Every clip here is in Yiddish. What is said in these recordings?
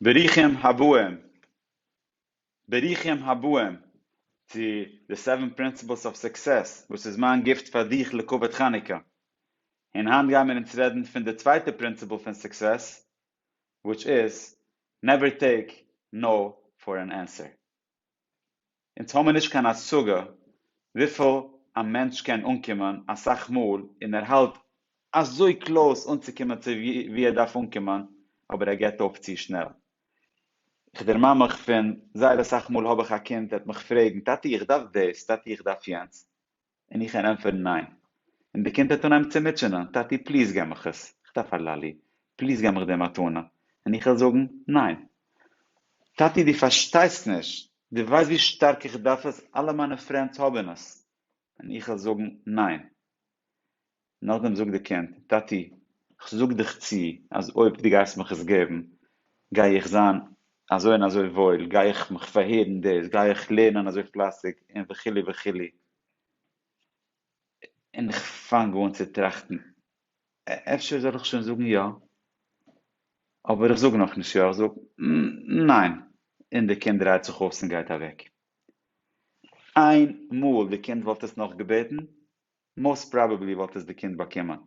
ברוכים הבאים, ברוכים הבאים צו די סעווען פרינסיפלס אוו סוקסעס וואס איז מיין גיפט פאר דיך לכבוד חנוכה, און היינט גיימיר אונז רעדן פון די צווייטע פרינסיפל פון סוקסעס, וויטש איז, נעווער טעיק נאו פאר ען ענסער. אונז האמיר נישט קיין השגה וויפיל א מענטש קען אנקומען אסאך מאל און ער האלט אזוי קלאוס אנצוקומען צו ווי ער דארף אנקומען אבער ער געבט אויף צו שנעל. איך דערמאן מיך פון זייער אסאך מאל האב איך א קינד ער וועט מיך פרעגן טאטי איך דארף דאס, טאטי איך דארף יענץ, און איך קען ענטפערן ניין, און די קינד העט אן אנהייבן צו מוטשענען, טאטי פליז גיב מיך עס, איך דארף א לאלי, פליז גיב מיך די מתנה, און איך וועל זאגן ניין, טאטי דו פארשטייסט נישט, דו ווייסט ווי שטארק איך דארף עס, אלע מיינע פרענדס האבן עס, און איך וועל זאגן ניין. נאכדעם זאגט די קינד, טאטי, כ'זאג דיך צו אז אויב דו גייסט מיך עס געבן, גיי איך זיין אזוי און אזוי וואויל, גיי איך מיך פארהערן דאס, גיי איך לערנען אזוי פלייסיג, און וכו' וכו'. און איך פאנג אן צו טראכטן, אפשר זאל איך שוין זאגן יא? אבער איך זאג נאכנישט יא, איך זאג ניין, און די קינד דרייט זיך אויס און גייט אוועק. איין מאל די קינד וואלט עס נאך געבעטן, מאסט פראבעבלי וואלט עס די קינד באקומען.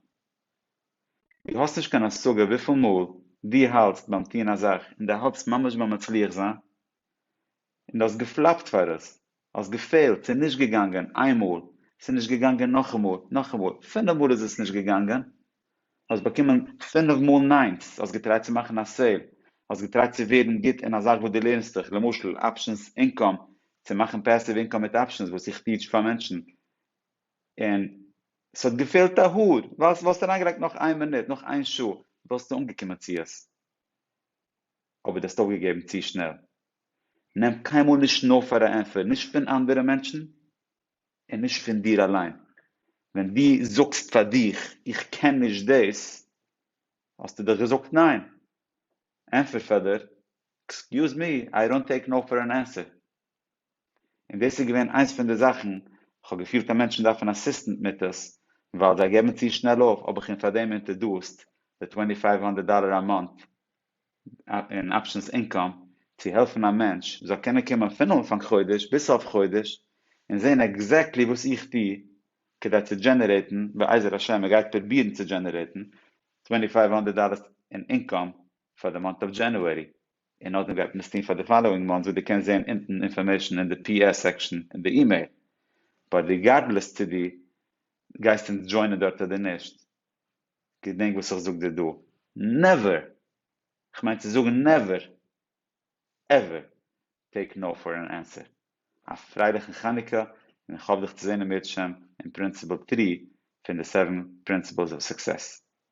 דו האסט נישט קיין השגה וויפיל מאל דו האלטסט ביים טון א זאך און דו האלטסט ממש ביים מצליח זיין און דו האסט געפלאפט פאר עס, האסט געפעלט, ס'איז נישט געגאנגען איין מאל, ס'איז נישט געגאנגען נאכאמאל, נאכאמאל, פינף מאל איז עס נישט געגאנגען, האסט באקומען פינף מאל ניין'ס, האסט געטרייט צו מאכן א סעיל, האסט געטרייט צו ווערן גוט אין א זאך וואס דו לערנסט דיך, למשל אפשענס אינקאם, צו מאכן פעסיוו אינקאם מיט אפשענס וואס איך טיעטש פאר מענטשן, און עס האט געפעלט א האר, ווייל וואלסטו אריינגעלייגט נאך איין מינוט, נאך איין שעה, וואלסטו אנגעקומען צו עס, אבער דו האסט אויפגעגעבן צו שנעל. נעם קיינמאל נישט נאו פאר א ענטפער, נישט פון אנדערע מענטשן, און נישט פון דיר אליין. ווען דו זאגסט פאר דיך, איך קען נישט דאס, האסטו דאך געזאגט ניין. ענטפער פאר דיר, עקסקיוז מי, איי דאנט טעיק נאו פאר אן ענסער. און דאס איז געווען איינס פון די זאכן, כ'האב געפילט אז מענטשן דארפן אסיסטענט מיט עס, ווייל זיי געבן צו שנעל אויף, האב איך אים פארדעם אינטערדארסט די טווענטי פייוו הונדערט דאלער א מאנט אין אפשענס אינקאם, צו העלפן א מענטש זאל קענען קומען פון אנפאנג חודש ביז סוף חודש, און זען עקזעקטלי וואס איך טו כדי צו דזשענערעיטן, בעזר השם ער גייט פרובירן צו דזשענערעיטן, טווענטי פייוו הונדערט דאלער אין אינקאם פאר די מאנט אוו דזשענוערי, און נאכדעם גייט מען עס טון פאר די פאלאווינג מאנט ווי די קענסט זעהן אונטן אינפארמעישן אין די פי עס סעקשן אין די אימעיל, באט ריגארדלעס צו די גייסט אונז דזשוינען דארט אדער נישט, געדענק וואס איך זאג דיר דא, נעווער! כ'מיין צו זאגן נעווער עווער טעיק נאו פאר אן ענסער! א פרייליכן חנוכה און איך האף דיך צו זעהן אם ירצה השם אין פרינסיפעל טרי פון די סעווען פרינסיפעלס אוו סוקסעס.